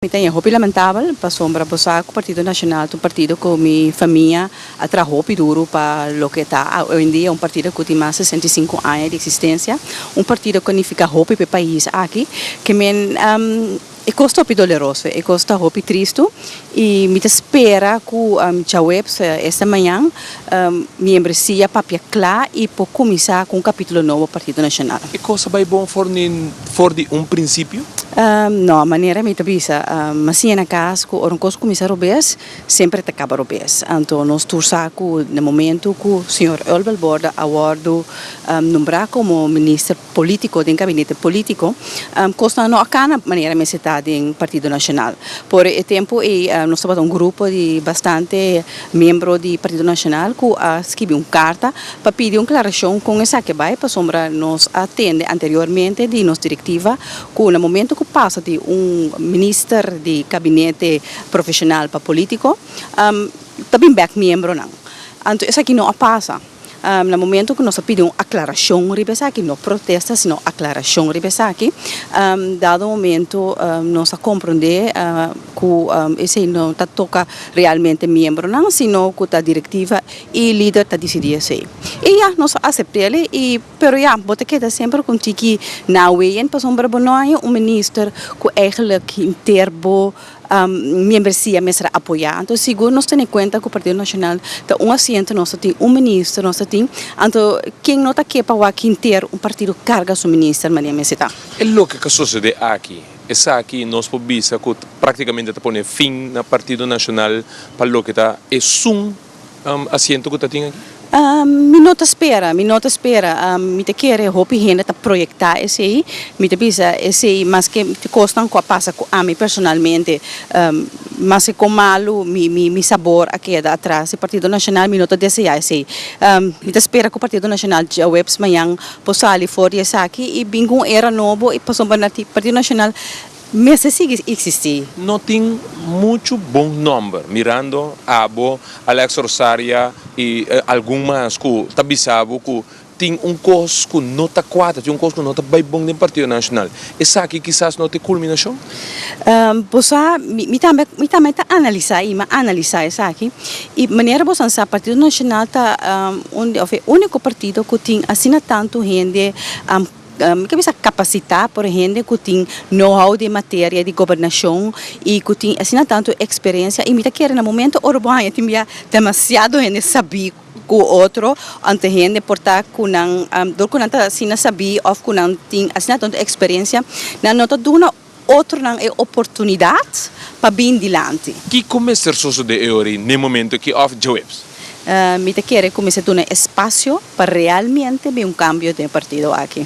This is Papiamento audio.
Mi ta ña hopi lamentabel pasobra bo sa cu Partido Nacional ta un partido cu mi famia a traha hopi duru pa loke ta hoyendia un partido cu tin mas sesenta i sinku aña di existencia, un partido cu a nifica hopi pa e pais aki, ke men e cos ta hopi doleroso, e cos ta hopi tristu y mi ta spera cu djaweps, esta mañan. Miembresia papia cla y por cuminsa cu un capitulo nobo Partido Nacional. E cosa bay bon for nin for di un principio? No, manera mi ta bisa, Masinja na cas cu ora un cos cuminsa robes, semper e ta caba robes. Anto nos tur sa cu na momento cu Señor Ulbelborda a wordo nombra como Minister, polítiko den gabinete polítiko, kosnan no a kana manera mester ta den Partido Nacional. Por e tempu ei nos tabata un grupo di bastante miembro di Partido Nacional ku a skibi un karta pa pidi un klarashon kon esaki a bai pasobra nos a tende anteriormente di nos direktiva ku na momentu ku pasa di un minister di gabinete profeshonal pa polítiko ta bin bèk miembronan. Anto esaki no a pasa. Na momento cu nos a pidi un aclaracion riba esaki, no protesta sino aclaracion riba esaki, dado momento nos a comprende cu esey no ta toca realmente miembronan sino cu ta directiva y lider ta dicidi esey. Y ya, nos a acept'e y pero ya bo ta keda semper con tiki na weyen pasobra bo no haya un minister cu eigenlijk hinter bo. Miembresia mester apoyá. Anto sigur nos tene kuenta ku Partido Nacional ta un asiento, nos ta tin un minister, nos ta tin, anto ken no ta ke pa wak hinter un partido karga su minister mania mester ta. E loke ka sosodé aki. Esaki nos por bisa ku práktikamente ta pone fin na Partido Nacional pa loke ta esun. Um asiento cu ta tin aki? Um mi no ta spera, mi no ta spera. Um mi ta kere hopi hende ta proyecta esey. Mi ta bisa esey maske cosnan cu a pasa cu ami personalmente, um maske con malu mi mi mi sabor a keda atras di Partido Nacional, mi no ta desea esey. Um mi ta spera cu Partido Nacional djaweps mañan por sali for di esaki y bin cu un era nobo y pasobra na tin Partido Nacional Mester sigui existí. No tin muchu bon nomber mirando abo, Alex Rosaria y algun mas cu ta bisa bo cu tin un cos cu no ta cuadra, tin un cos cu no ta bay bon den Partido Nacional. Esaki kisas no ta e culminacion? Bo sa, mi tambe mi tambe ta analisa y mi a analisa esaki y manera bo san sa Partido Nacional ta un de of e unico partido cu tin asina tanto hende. Mi ta bisa kapasitá por hende ku tin know-how den materia di gobernashon i ku tin asina tantu eksperensia i mi ta kere na momentu ora bo haña tin bia demasiado hende sabí ku otro anto hende por ta ku nan dor ku nan ta asina sabí òf ku nan tin asina tantu eksperensia nan no ta duna. otronan e oportunidat pa bin dilanti. Kico mester sosode e ora y n'e momento aki of djaweps? Mi ta kere cu mester duna espacio pa realmente bin un cambio den partido aki.